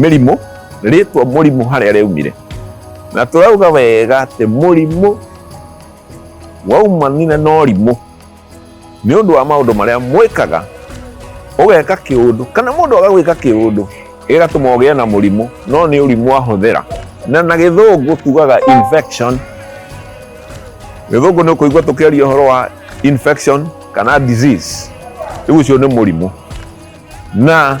mĩrimũ rĩtwa mũrimũ harĩa rĩaumire na tũrauga wega atĩ mũrimũ waumanire na ũrimũ nĩ ũndũ wa maũndũ marĩa mwĩkaga ũgeka kĩũndũ kana mũndũ agagwĩka kĩũndũ ĩgatũma ũgĩe na mũrimũ no nĩ ũrimũ ahũthĩra na na gĩthũngũ tugaga infection gĩthũngũ nĩ ũkũigua tũkĩaria ũhoro wa infection kana disease rĩu ũcio nĩ mũrimũ na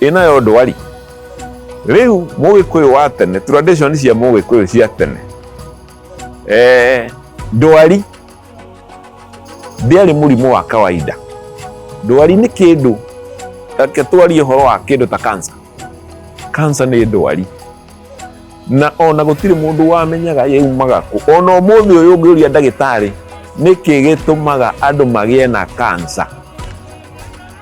ĩno yo ndwari rĩu mũgĩkũyũ wa tene tradition cia mũgĩkũyũ cia tene eh, ndwari ndĩarĩ mũrimũ wa kawaida ndwari nĩ kĩndũ reke twarie ũhoro wa kĩndũ ta kansa kansa nĩ ndwari na ona gũtirĩ mũndũ wamenyaga yaumaga kũ ona ũmũthĩ ũyũ ũngĩũria ndagĩtarĩ nĩkĩ gĩtũmaga andũ magĩe na kansa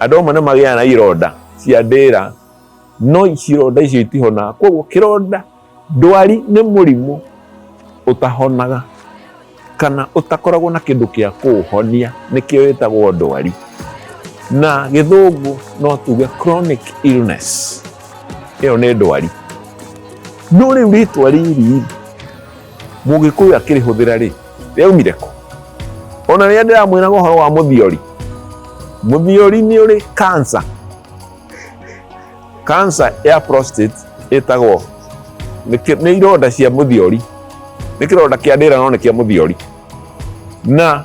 Andũ amwe nĩ magĩaga na ironda cia ndĩra, no ironda icio itihonaga. Koguo kĩronda, ndwari nĩ mũrimũ ũtahonaga kana ũtakoragwo na kĩndũ gĩa kũũhonia, nĩkĩo wĩtagwo ndwari. Na gĩthũngũ no tuge chronic illness, ĩyo nĩ ndwari. No rĩu rĩtwa rĩrĩ-rĩ. Mũgĩkũyũ akĩrĩhũthĩra rĩ, rĩaumire kũ? Ona rĩrĩa ndĩramwĩraga ũhoro wa mũthiori, mũthiori nĩ ũrĩ cancer. Cancer ya prostate ĩtagwo nĩ ironda cia mũthiori, nĩ kĩronda kĩa ndĩra no nĩ kĩa mũthiori. Na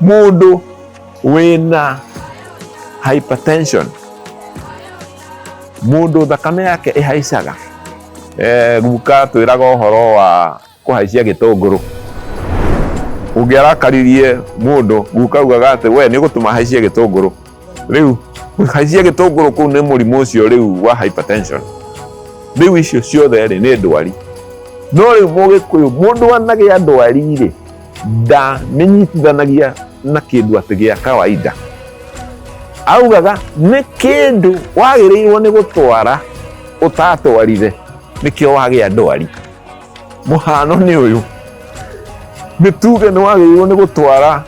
mundu wina hypertension mundu thakame yake ihaicaga eh, guka twiraga uhoro wa kuhaicia gitunguru ungiarakaririe mundu guka ugaga ati we ni gutuma haicie gitunguru riu haicie gitunguru kuu ni murimu ucio riu wa hypertension riu icio ciothe ri ni ndwari no riu mugikuyu mundu anagia ndwari ri nda nĩ nyitithanagia na kĩndũ atĩ gĩa kawaida augaga nĩ kĩndũ wagĩrĩirwo nĩ gũtwara ũtatwarire nĩkĩo wagĩa ndwari mũhano nĩ ũyũ nĩ tuge nĩ wagĩrĩirwo nĩ gũtwara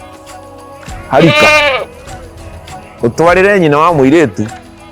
harika ũtwarĩre nyina wa mũirĩtu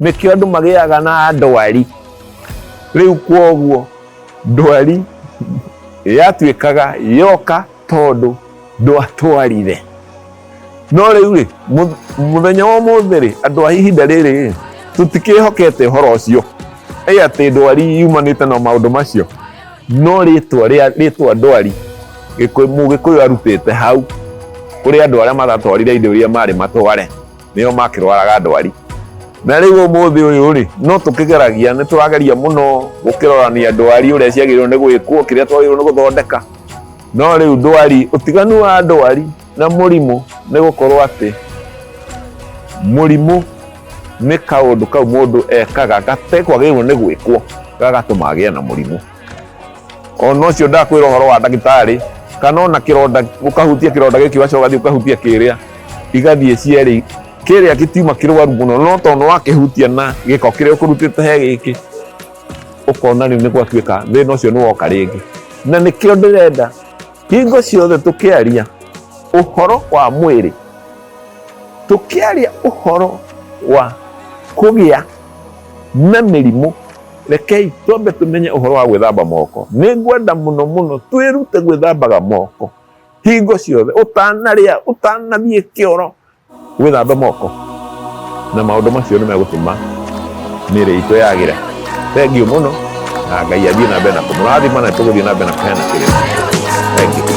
nĩkĩo andũ magĩaga na ndwari rĩu kwoguo ndwari yatuĩkaga yoka tondũ ndwatwarire no rĩu rĩ mũ- mũthenya wa ũmũthĩ rĩ andũ a ihinda rĩrĩ rĩ tũtikĩhokete ũhoro ũcio ĩ atĩ ndwari yumanĩte na maũndũ macio no rĩtwa rĩa rĩtwa ndwari Gĩkũyũ- mũgĩkũyũ arutĩte hau kũrĩ andũ arĩa maratwarire indo iria marĩ matware nĩo makĩrwaraga ndwari na rĩu ũmũthĩ ũyũ rĩ no tũkĩgeragia nĩ tũrageria mũno gũkĩrorania ndwari ũrĩa ciagĩrĩirwo nĩ gwĩkwo kĩrĩa twagĩrĩirwo nĩ gũthondeka no rĩu ndwari ũtiganu wa ndwari na mũrimũ nĩ gũkorwo atĩ mũrimũ nĩ kaũndũ kau mũndũ ekaga gatekwagĩrĩirwo nĩ gwĩkwo gagatũma agĩe na mũrimũ ona ũcio ndakwĩra ũhoro wa ndagĩtarĩ kana ona kĩronda ũkahutia kĩronda gĩkĩ wacoka ũgathiĩ ũkahutia kĩrĩa igathiĩ cierĩ kĩrĩa gĩtiuma kĩrwaru mũno no tondũ wakĩhutia na gĩko kĩrĩa ũkũrutĩte he gĩkĩ ũkona rĩu nĩ gwatuĩka thĩna ũcio nĩ woka rĩngĩ na nĩkĩo ndĩrenda hingo ciothe tũkĩaria ũhoro wa mwĩrĩ tũkĩaria ũhoro wa kũgĩa na mĩrimũ Rekei twambe tũmenye ũhoro wa gwĩthamba moko. Nĩ ngwenda mũno mũno twĩrute gwĩthambaga moko hingo ciothe, ũtanarĩa, ũtanathiĩ kĩoro, wĩthambe moko, na maũndũ macio nĩ megũtũma mĩĩrĩ itũ yagĩre. Thengiũ mũno, na Ngai athiĩ na mbere na kũmũrathima na tũgũthiĩ na mbere na kũheana kĩrĩma. Thank you.